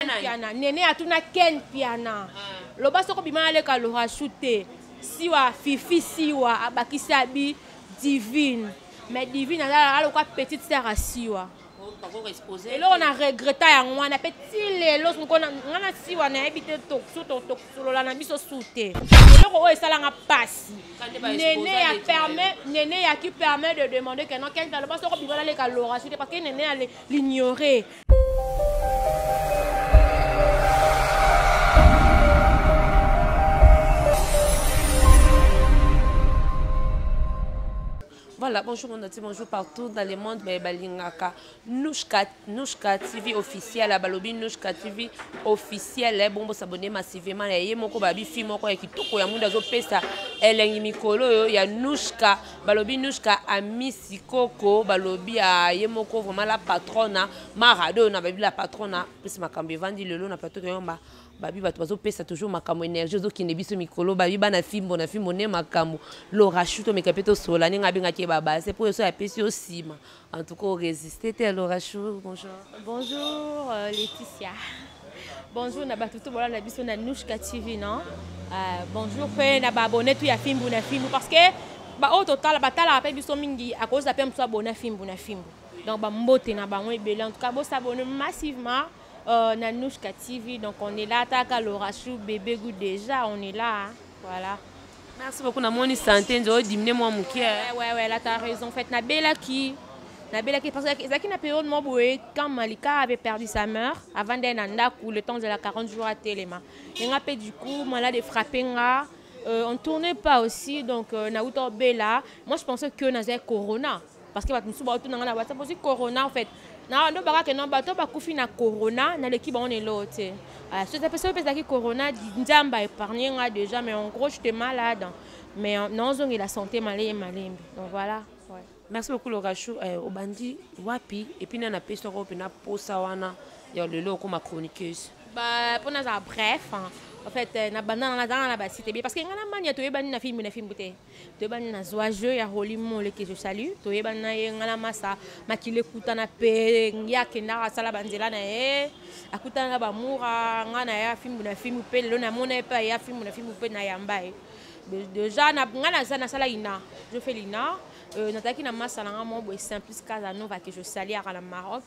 piana nene atuna ken piana ah. loba soko bima aleka lorasu te siwa fifi siwa abakisi abi divine mais divine azala aloka petite sœur ya siwa eloko na regreta yango wana mpe ti lelo nga na siwa nayebi te tosolola na biso su te eloko oyo esalanga mpasi nene ya permet nene ya qui permet de demander que non kenta loba soko bibala leka lora su te parce que nene ya l'ignore Voilà, bonjour mon ati, bonjour partout dans le monde, mais balingaka Nushka, Nushka TV officiel, balobi Nushka TV officiel, eh, bon bo s'abonner massivement, ya ye moko babi fi moko ya kitoko ya mundo azo pesa elengi mikolo yo ya Nushka balobi nushka amisi koko balobi aye moko vraiment la patrona marado na babi la patrona plus makambo evandi lelo na plateau toyomba babi bato bazopesa toujours makambo énergie ozokende biso mikolo babi bana fimbo na fimbo nde makambo lorashu tomeka mpe tosola ndenge abengaki ye babase mpo yo so apesi yo nsima En tout cas, on résistait. T'es Laura Chou, bonjour. Bonjour, euh, Laetitia. Bonjour, na batutu bola na biso na Nushka TV, non? Euh, bonjour, pe na ba abonné tout ya fimbu na fimbu parce que ba oyo totala batala pe biso mingi à cause pe mosu abonné fimbu na fimbu. Donc ba mbote na bango ebele. En tout cas, bo s'abonner massivement euh, na Nushka TV. Donc on est là, taka Laura Chou, bébé goût déjà, on est là. Hein? Voilà. Merci beaucoup na moni santé nzo diminuer moi mukie. Ouais ouais ouais, là tu as raison. En fait, na bela qui na bela qui parce que ezaki na période moi boye quand Malika avait perdu sa mère avant d'aller na ndaku le temps de la 40 jours à Telema. Et nga pe du coup malade frappé nga euh, on tournait pas aussi donc euh, na uto bela. Moi je pensais que nazé corona. parce que bato mosusu baotuna ngai na whatsapp ozwi corona en fait na ndo bakake no bato bakufi na corona naleki bango na eloo te ah, soki mpe ezalaki corona nzambe aépargne nga déjà mais en gros j'étais malade mais euh, naozongela santé maleye malembe donc voilà ouais. merci beaucoup lorachou eh, obandi wapi epuis nani apesi yango mpena mposa wana ya lelo okoma chroniqueuse mpo nazala bref en fait euh, na banda nazalaka na basite ebele parce que ngai na mania toyebani na filme na filme te toyebani na zwa jeu ya roli mole ke je salu toyebani na ye ngala masa makili ekutana mpe ye akendaka asala banzela na ye akutana na bamura ngai na ye afimbu na fimbu mpe lelo namona ye mpe aye afimbu na fimbu mpe nayamba ye déjà ngai naza nasala ina je fais lina euh, nazalaki na masa na ngai moko boye simplice casanova ke je saliaka na maroc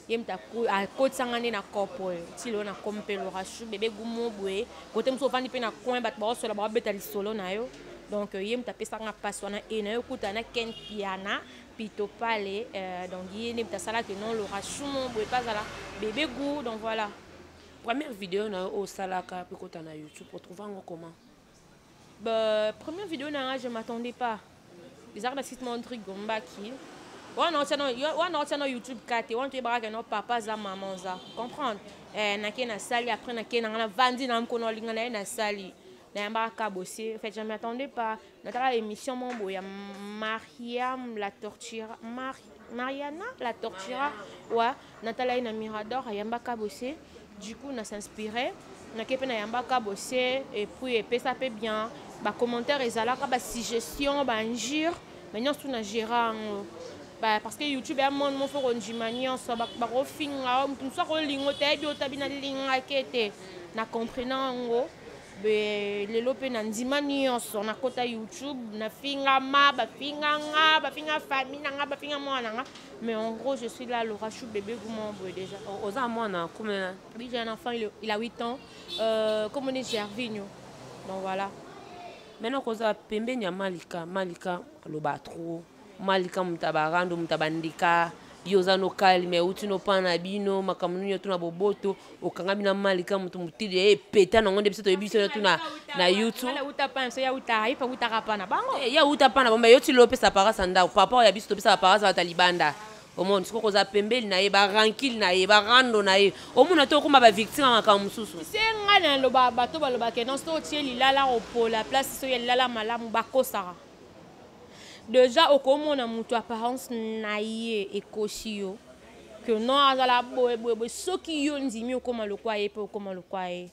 ye moto akotisa ngai nde na cope oyo ti lelo na komi mpe lorasu bebe gumo boye kote mosusu ofandi mpe na coin bato baosola baobeta lisolo na yo donc ye moto apesaka nga mpasi wana e na yo okuta na ken piana pito pale euh, donc ye nde moto asalaki non lorasu mo boye mpe azala bebe gout donc voilà première video na yo oyo osalaka mpe kota na youtube otrouve yango comment Bah, première vidéo nanga je m'attendais pas ezalaka na site mon truc gombaki wana otia na youtube ka te wana toyebaka ke no papa aza mama oza comprendre eh, nake nasali après nake nanga navandi na mokona olinga na ye nasali nayambaka ka bosi en fait je m'attendais pas natala émission mon boya mariam la torture Mar mariana la tortura wa natala ye na mirador ayamba kabose du coup na s'inspire nake mpe nayamba kabose epuis epesa mpe bien bacommentaire ezalaka basuggestion bainjure mais nyonso tu na gera yango parce que youtube ya monde mofo kondima nyonso bakofinga moto mosusu akolingo te ayebi otabi nalingaki ete na comprenant yango lelo mpe na ndima nyonso nakota youtube nafingama bafinga nga bafinga famille na nga bafinga mwana na nga mais en gros je suis là laura chou bébé guma boye déjà oza mwana kumela oui j'ai un enfant il, il a 8 ans euh, comme on est gervigno donc voilà maintenant kozala pembeni ya malika malika aloba trop malika moto ya barando moto ya bandeka yo oza no kalme euti no mpa na bino makambo nini oto na boboto okangami na malika moto motili ya epeta nango nde biso toyebi biso yoto na, na youtube ya uta mpa na bango eh, ya uta mpa na bango yoti lo opesa parasa ndako papa ya biso topesaka parasa bata libanda omoni sikoyo kozala pembeli na ye barankile na ye barando na ye omona te okoma bavictime ya makambo mosusu se ngai naloba bato balobaka non soki otie lilala opola place soki ya lilala malamu bakosaka deja okomona moto apparence na ye ekosi yo que non azala boye boye boye soki yo ndimi okoma lokwa ye mpe okoma lokwa ye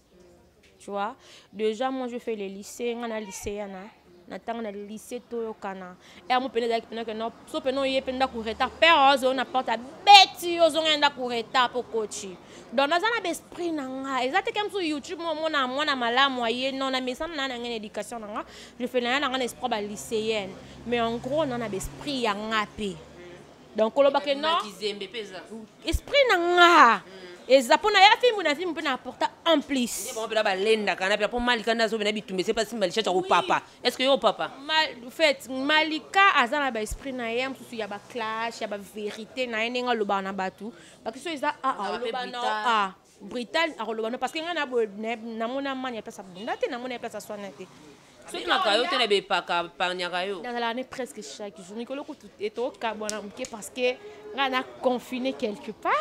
tu vois déjà moi je fais le lycée nga na lycée yana na ntango na lycée toyokana yango mpenza ezalaki mpena que non so mpena oye mpe ndako retard père ozo oyo na porte abeti yo ozonga ya ndako retard mpo kochi donc naza na baesprit na nga eza te ke mosusu youtube momona mwana malamu aye non na mesana na ya na ngai na éducation na nga lefele na ya na ngai na esprit ba lycéenne mais en gros na na baesprit ya nga mpe donc kolobake non esprit na nga mm. eza mpo na ya fimbu na fimbu mpe na apporta en plus balendaka na mpo malika nde azobina bitumba ese mpasi malisha cya kopapa est ce que yo papa fait malika aza na baesprit na ye mosusu ya baclash ya baverité na ye ndenge alobaka na bato bakristo eza aaloba na a brital akoloba no parce que ngai naboye namona mani ya place abunda te namona ya place aswana te soki maka yo te na bepaka parniaka yo nazalaka ne presque chaque jour mikolo kutu etokabwana moke parce que ngai na confine quelque part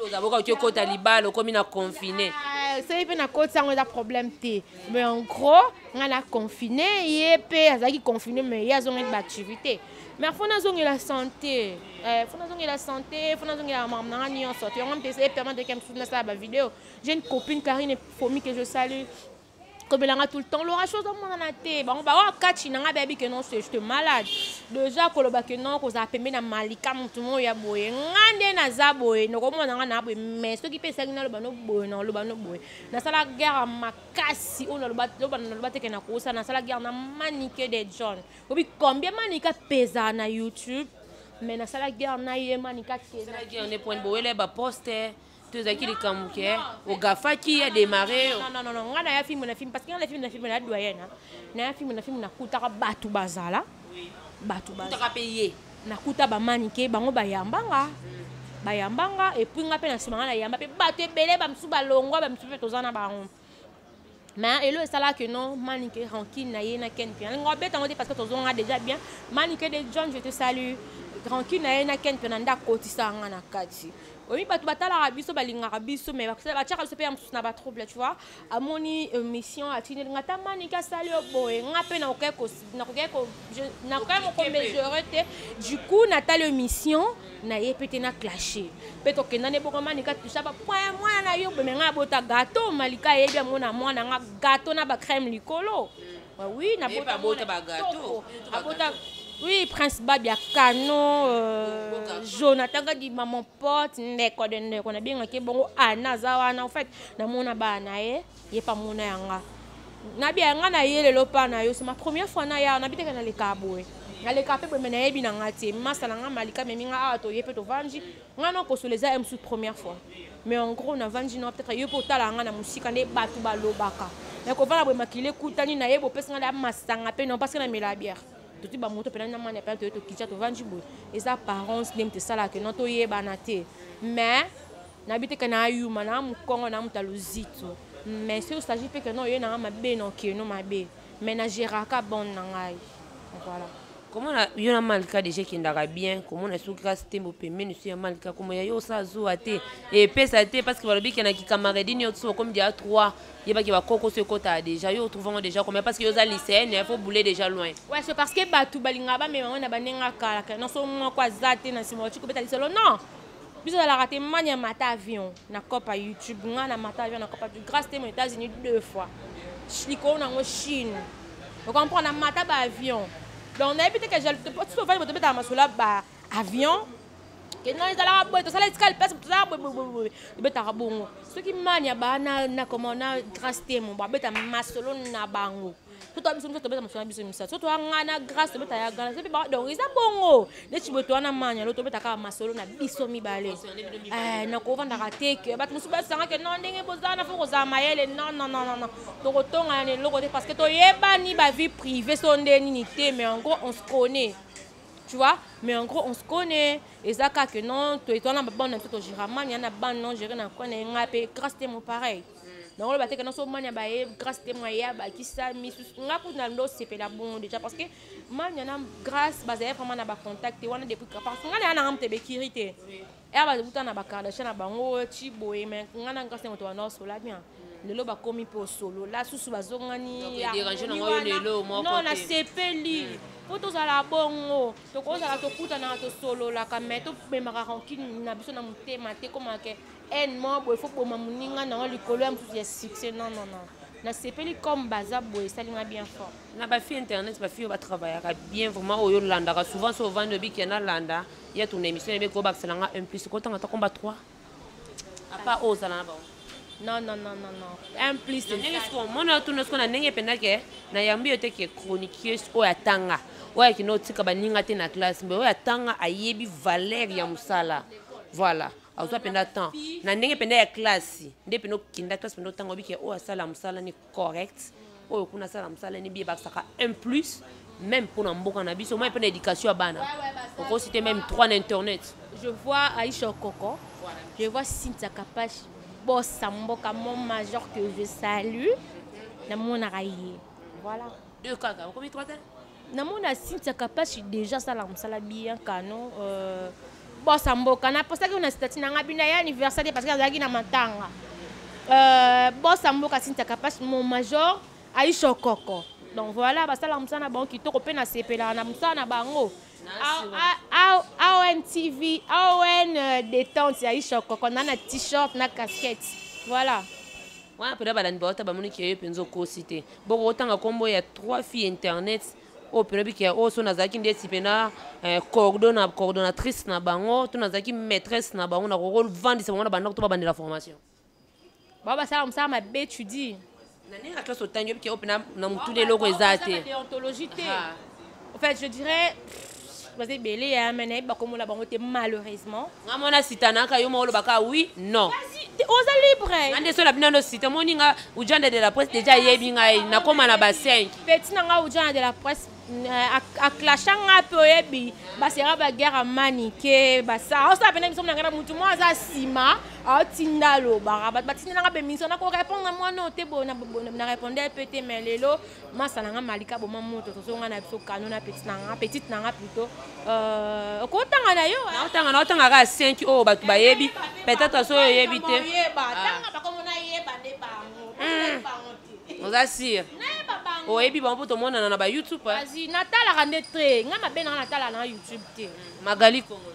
ozaboka oki okota libala okomi na confine soki mpe nakoti yango eza problème te mais en gros nga na confine ye mpe azalaki confine me ye azongaki baactivité mais fo nazongela santé eh, fo nazongela santé fo nazongela makambo na nga nyonso to yango mpe ese permettre eke mosusu nasala bavideo j'ai une copine carine fomi que je salue kobelanga tout le temps lora chose omonana te bango baoyo kati na ngai bayebi ke non se jete malade deja koloba ke non kozala pembe na malika motu moko ya boye ngai nde naza boye nokomona ngai na boye mais soki mpe esaki naloba no boye naloba no boye nasala guerre makasi oyo naloba teke na kosa nasala guerre na manike de john obi combien manike apezaa na youtube mais nasala guerre na ye manike akezaguerne poni bowele baposte to ezalaki likambo ke ogafaki ya demare ngai naya filme na filme parce que ngai na filme na filme na doyena naya filme na filme nakutaka bato bazala bato bazala mpe ye nakuta bamanike bango bayambanga bayambanga epuis nga mpe na nsima nga nayamba mpe bato ebele bamosusu balongwa bamosusu mpe toza na bango mais elo esalaka que non manike rankine na ye na ken mpe nalinga obeta yango te parce que tozonga déjà bien manike de john je te salue rankine na ye na ken mpe na nde akotisaka nga na kati oyebi bato batalaka biso balingaka biso mais batyaka biso mpe ya mosusu na batrouble tu vois amoni euh, mission atindeli nga ata manike asali yo boye nga mpe nakokai mokomesure te du coup natali yo mission na ye mpe te na clashe mpe tokenda ne boko manike atusa bapoint ya mwana na yo bome nga abota gato malika ayebi yango na mwana nga gato na bacrème likolo oui nabota abota oui prince babia canon euh, jonathan gadi maman porte ndeko de ndeko nabengaki bongo ana aza wana en fait namona bana na ye ye mpe amona yanga nabi yanga na ye lelo mpa na yo se ma première fois na ya nabi teke naleka boye naleka mpe boye me nayebi na nga te masa na nga malika memi nga awa toye mpe tovandi nga na kosola eza msu première fois mais en gros navandi na peut-être yo mpe otala yanga na mosika nde bato balobaka nakovanda boye makili ekutani na ye bopesi nga na masanga mpe non parce que namela bière toti bamoto mpena na mani apena toye tokitya tovandi boye eza apparence nde moto esalaka no toyebana te mais nayebi te ke na ayuma na mokongo na moto aluzito mais soki osagi mpe keno oye nanga mabe na okeno mabe mais na geraka bone na ngai voilà komona yo na malika deja ekendaka bien komona soki kasi te mopembeni so ya malika komona yo osa zuwa te epesa te parce que balobi ke na kikamaredi nyonso okomi dia 3 yeba ke bakoko so ekotaka déjà yo otrouve yango déjà combien parce que yo oza lycéenne il faut boule déjà loin ouais c'est parce que bato balingaka bamema yango na bandenge akalaka na so moko aza te na nsima oci kobeta lisolo non biso ozalaka te mani ya mata avion na copa youtube ngai na mata avion na copa grâce te mo états-unis deux fois likolo na yango chine ocomprendre na mata baavion donc nayebi te ke jaltofandi bato obetaka masolo ya avion kena ezalaka boye tosala esika lipasi tozalaka boyeboyeboye ebetaka bongo soki mani ya baa na koma na grace temo babeta masolo na bango so toya biso miso tobeta masolo na biso misato so toya ngai na grace tobeta ya gana soki ba donc eza bongo neti boye toya na mani alo tobeta kaka masolo na biso mibale eh, nakovandaka te ke bato mosusu basangake no ndenge bozala na fo kozala mayele non non non non non tokotongana na eloko te parce que toyebani bavie privée so nde nini te mais yango on se connaît tu vois mais en gros on se connaît eza kaka que non toyetwana na babana na biso togera mania na bana non gere na kwana ye ngai mpe grâce te mon pareil nango loba te ke naso mania baye grâce te mwa ye abakisa misusu ngai kutu na ndo osepela bongo déjà parce que mania na grâce bazali vraiment na bacontact te wana depuis parce que ngai na ya nanga moto ebekiri te eya bakuta na bakardasha na bango ti boye me ngai na nkasi moto wana osola bien lelo bakomi mpe osolola susu bazongani non nasepeli hmm. mpo tozala bongo tokozala tokutanaka tosololaka mai tobemaka rankine na biso na motema te komake haine moko boye fo boma moninga nango likolo ya mosusu ya succès non non non nasepeli comme baza boye esali nga bien fort na bafille internet bafille oyo batravaillaka bien vraiment oyo olandaka souvent so ovandi obiki ya nalanda ya tuna émission ebe ko bakisa nanga un plus ko tanga ta combat 3 apa o zala na ba non non non non non un plus ndenge siko mona tuna siko na ndenge penda ke na yambi yo te ke chroniqueuse oyo atanga oyo akino tika baninga te na classe mbe oyo atanga ayebi valeur ya mosala voilà azwa mpenza temps na ndenge mpenza ya classe nde mpenza okenda classe mpenza otanga obike oyo asala mosala ni correct oyo kuna asala mosala nini biye bakisaka un plus même mpona mboka na biso mai mpe na éducation ya bana okosi te même trois na internet je vois aisha okoko je vois cynthia kapash bosa mboka mon major que je salue namonaka ye voilà deux kaka okomi trois te namona cynthia kapashi deja asala mosala bien kano euh, bosa mboka naposaki na stati na ngai bino ya anniversaire parce que azalaki na matanga euh, bosa mboka cynthia kapashi mon major aisha okoko donc voilà basala mosala na bango kitoko mpe nasepelaka na mosala na bango aon tv aon euh, détente ya aisha okoko na na t-shirt na casquette voilà wana mpenza balandi bawata bamoni ke yo mpenza okosi te boko otanga kombo ya trois filles internet oyo mpena bike ya oyo so nazalaki ndeti mpena eh, coordona coordonnatrice na bango to nazalaki maîtresse na bango nakokovandisa bango na bandako to babandela formation bao basala mosala mabe tu dis na ndenge ya classe otangi obike oyo mpena na motuna eloko eza te En fait, je dirais baza ebele ya me nayebi bakomona bango te malheureusement nga mona sitanaka yo moko olobaka oui non oza libre nga nde so na bino ando sita omoni nga ujanda de la presse deja ayebi ngai nakóma na ba 5 peti na nga ujanda de la presse euh, aclasha nga mpe oyebi basera baguerre ya manike basa osala pena biso nanga na motu moko aza nsima aotinda alobaka bato batindela nga bemission nakorépondre mwana oyo te na répondre mpe te mai lelo masa na nga malika boma moto tozonga na biso kano na petite na nga petite na nga plutot euh, okotanga na yo naotanga naotanga kaka 5 oyo bato bayebi peut-être soki oyebi te oza sire oyebi bango mpo tomonana na bayoutube eh? natalaka nde te ngai mabe nanga natalaka na youtube te magali kongo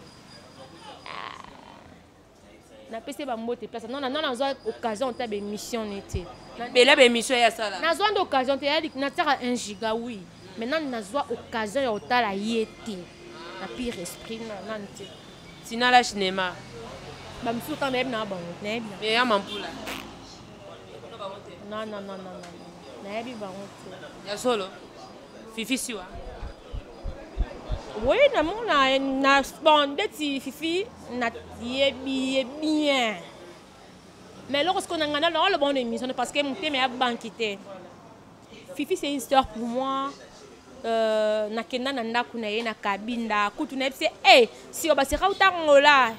napesi ye bambote place nona nona nazwa occasion ta baémission ne te bela baémission ya sala nazwa nde occasion te natiaka un giga oui mais nani nazwa occasion ya kotala ye te na pire esprit nani te tina la cinéma bamisusu kaka nayebi na bango nayebi na ya mampula non non non non nayebi bango te ya solo fifi siwa oui namona na bon ndeti fifi nayebi ye bien mais eloko sikoyo na ngai nalo aloba ono émission parce que motema ya banki te fifi c'est une star pour moi euh, nakenda na ndako na ye na kabinda kutu nayebi se e sio baseka utangola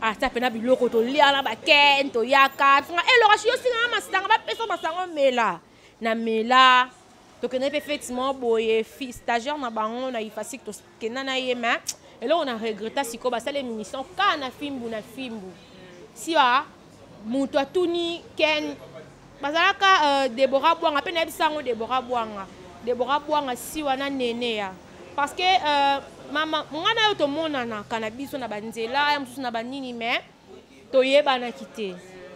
ata mpena biloko tolia na baken toyaka elokasi yosinganga masanga bapesa masango mela na mela tokendaki mpe feti moko boye stagiaire na bango na ifasik tokenda na ye ma eloko na regreta sikoyo basala émission ka na fimbu na fimbu siwa moto atuni ken bazalaka uh, debora bwanga mpe nayebisa yango debora bwanga debora bwanga siwa na nene ya parce que uh, mama ngai na yo tomonanaka na biso na banzela ya mosusu na banini mais toyebanaki te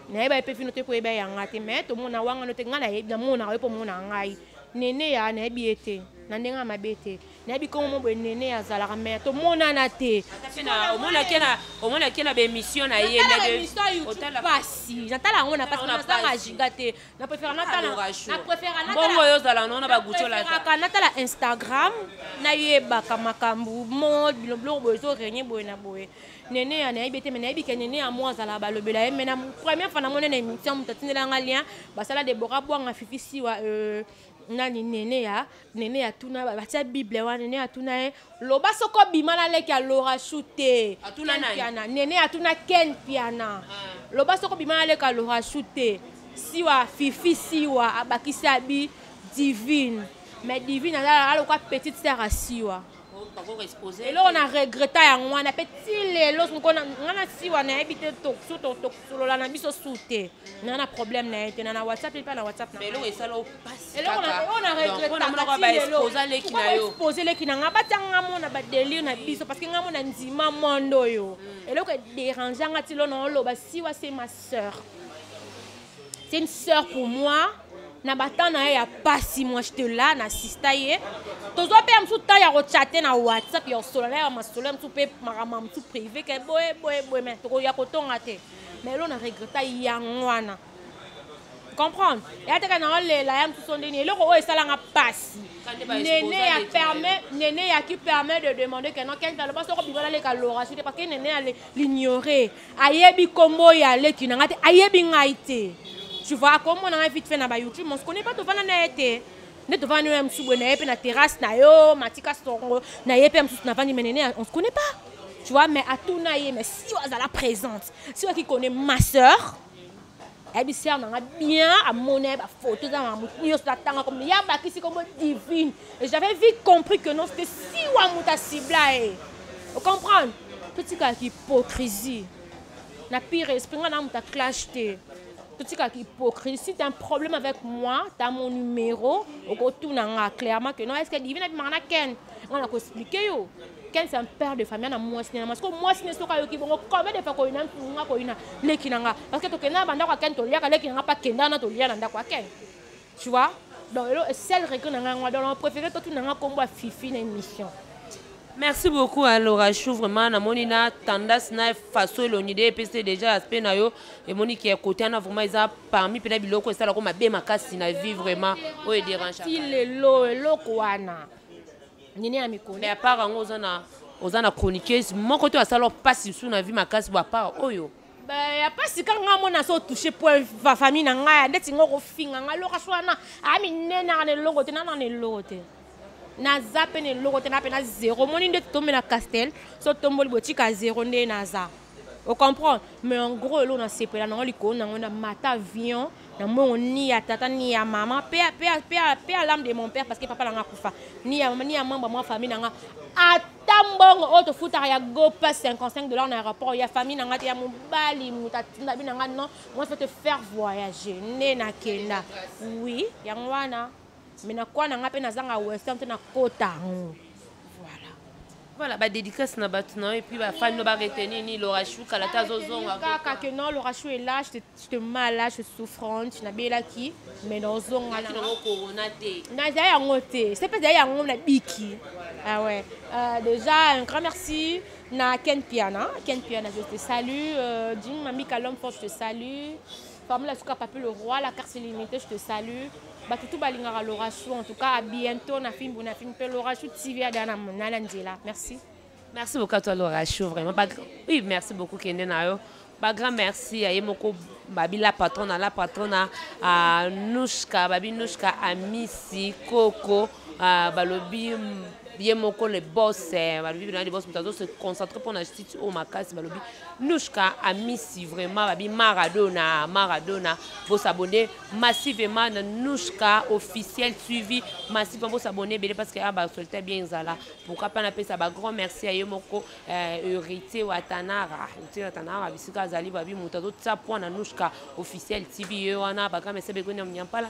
nayeba ye mpe fino te koyeba yanga te me tomona wangano te ngai namonaka ye mpo omonaka ngai nene ya nayebi ye te na ndenge ya mabe te nayebi nkongo mo boye nene azalaka me tomonana te omonaki na baémission na ye pasi natala yango na pasi nazanga ajiga te na préfère natalabongo oyo ozala nona bagucholaka natala instagram nayebaka makambo mode biloko boye ezorenye boye na boye neneya nayebi te me nayebi ke neneya mo azalaka balobela ye me na première fois na moni na émission moto atindela nga lien basala debora bwanga fifi siwa euh, nani nene ya nene ya tuna batia bible wana nene ya tuna ye loba soko bima na leki ya lorashu te piana nene ya tuna ken piana ah. loba soko bima na leki ya lorashu te siwa fifi siwa abakisi abi divine mais divine azalaka aloka petite sere ya siwa eloko na regreta yango wana mpe ti lelo nga na siwa nayebi te su tosolola na biso su te na na problème na ye te na na whatsapp epa na whatsapp eloko na regretaexpose leki na nga batya nga mona badelire na biso parce que nga mona ndima mondo oyo mm. eloko ederange nga ti lo na oloba siwa se ma sœur c'est une sœur pour moi na batemp na ye ya pasi moi je te la na sista ye tozwa mpe ya mosusu temps ya kochate na whatsapp ya kosolola na ya masolo ya mosusu mpe makambo ya mosusu privé ke boye boye boye mai tokoya kotonga te mai elo na regreta yango wana comprendre ya teka na olela ya mosusu ndeni eloko oyo esalanga mpasi nene ya permet nene ya qui permet de demander que non kenta loba soko bibala leka loration te parce que nene ya l'ignorer ayebi kombo ya leki na ngai te ayebi ngai te tu vois akomona ngai vite fait na ba youtube mon connais pas tovanda na ye te nde tovandi na ye mosusu boye na ye mpe na terrasse na yo matika songo na ye mpe ya mosusu navandi menene on se connaît pas tu vois mais atuna ye mais si oyo azala présente si oyo akikone ma sœur ayebi sere na nga bien amona ye bafoto eza na motu nyonso natanga komi ya bakisi kombo divine et j'avais vite compris que non cete siwa moto asibla ye ocomprendre totikaka hypocrisie na pire esprit nga na moto aclash te totikaka hypocrisie si t'as un problème avec moi t'as mon numéro okotuna nga clairement que non est ce que divine abimaka na ken nga na koexplike yo ken c'est un père de famille na mwasi ne na mwasi ko mwasi ne soki ayoki bongo combien de fois koyina nga koyina leki na nga parce que tokenda na bandako ya ken toliaka leki na nga mpa kenda na tolia na ndako ya ken tu vois donc elo sel regret na nga yango donc na préféré totuna nga nkombo ya fifi na émission merci beaucoup à laura chou vraiment namoni na tendance na façon elongi nde epesi déjà aspect na yo emoni ke kote wana vraiment eza parmi mpena biloko esalako mabe makasi na vie vraiment oyo ederange ti lelo eloko wana nini ya mikolo mais apart yango oza na oza na chroniqueuse moko to asala mpasi mosusu na vie makasi bo apart oyo ya mpasi ka ngai mona so touche po famille na ngai ndeti ngo kofinga ngai loka so wana aminenaka na eloko te nana na eloko te naza mpe na eloko te na mpe na zero omoni nde totombe na castel so tomboli botika zero nde naza o comprend mais en gros eloko nasepela nango likolo nango na mata avion na mbongo ni ya tata ni ya mama pe ya lame de mon père parce que papa na nga akufa ni ya mama ni ya membre mwa famille na nga ata mbongo oyo tofutaka ya gopa 55 dollars na aéroport ya famille na nga te ya mobali moto atinda bi na nga non moi fe te faire voyager nde nakenda oui yango wana mais na kwa na nga mpe nazanga western te nakota yango voilà voilà badédicace na bato na yo epuis bafani no baretenir ni lorachou kala te azozonga kaka ke non lorachou ela te mala je souffrante nabelaki mais naozonga nango corona te naza yango te se mpe ezali yango na biki ah ouais euh, déjà un grand merci na ken piana ken piana je te salue euh, jim mamika l'homme fort je te salue Famille Suka Papi le roi, la carte illimitée, je te salue. Batutu balingaka Lorachou, en tout cas, à bientôt na film na film pe Lorachou TV ada na na na nzela. Merci. Merci beaucoup à toi Lorachou, vraiment. Ba... Oui, merci beaucoup Kende na yo. Ba grand merci à Yemoko Babi la patronne, la patronne à Nouchka, Babi Nouchka, à Missy, Coco. Ah, balobi ye moko le boss eh, balobi bina le boss moto azo se concentrer mpo na justice oyo makasi balobi nushka amisi vraiment babi maradona maradona bosabone massivement na nushka officiel suivi massivement bosabone ebele parce que a ah, basolta bien ezala pourquoi mpe napesa bagrand merci ya ye moko eh, héritier watanara héritier watanara bisika azali babi moto azotia mpo na nushka officiel tv ye wana bagrand merci begonia mnyampala